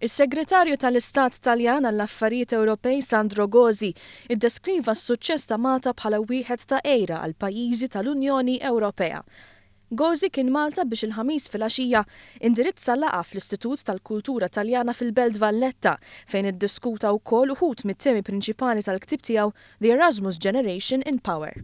Is-Segretarju tal-Istat Taljan għall-Affarijiet Ewropej Sandro Gozi ddeskriva s-suċċess ta' Malta bħala wieħed ta' għira għall-pajjiżi tal-Unjoni Ewropea. Gozi kien Malta biex il-Ħamis filgħaxija indirizza laqgħa fl-Istitut tal-Kultura Taljana fil-Belt Valletta fejn iddiskuta wkoll uħud mit-temi prinċipali tal-ktieb tiegħu The Erasmus Generation in Power.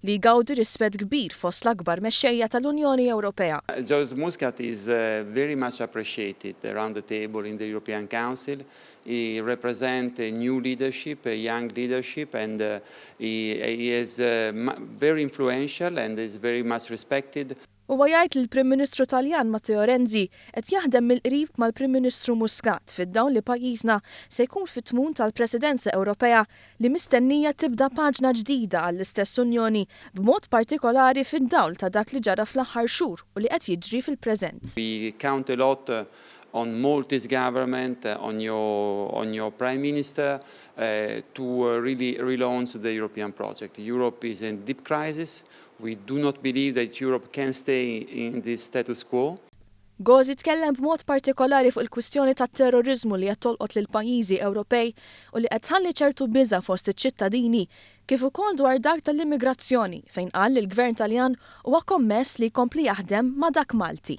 li jgawdi rispett kbir fost l-akbar mexxejja tal-Unjoni Ewropea. Joseph Muscat is very much appreciated around the table in the European Council, he represent a new leadership, a young leadership and he is very influential and is very much respected. Huwa jgħid li l-Prim Ministru Taljan Matteo Renzi qed jaħdem mill-qrib mal-Prim Ministru Muscat fid-dawl li pajjiżna se jkun fit-tmun tal-Presidenza Ewropea li mistennija tibda paġna ġdida għall-istess Unjoni b'mod partikolari fid-dawl ta' dak li ġara fl-aħħar xhur u li qed jiġri fil-preżent. We count a lot on Maltese government, on your on your Prime Minister to really relaunch the European project. Europe is in deep crisis We do not believe that Europe can stay in this status quo. Gozi tkellem b'mod partikolari fuq il-kwistjoni tat-terroriżmu li qed tolqot lill-pajjiżi Ewropej u li qed tħalli ċertu biża' fost iċ-ċittadini, kif ukoll dwar dak tal-immigrazzjoni, fejn qal li l-Gvern Taljan huwa kommess li jkompli jaħdem ma' dak Malti.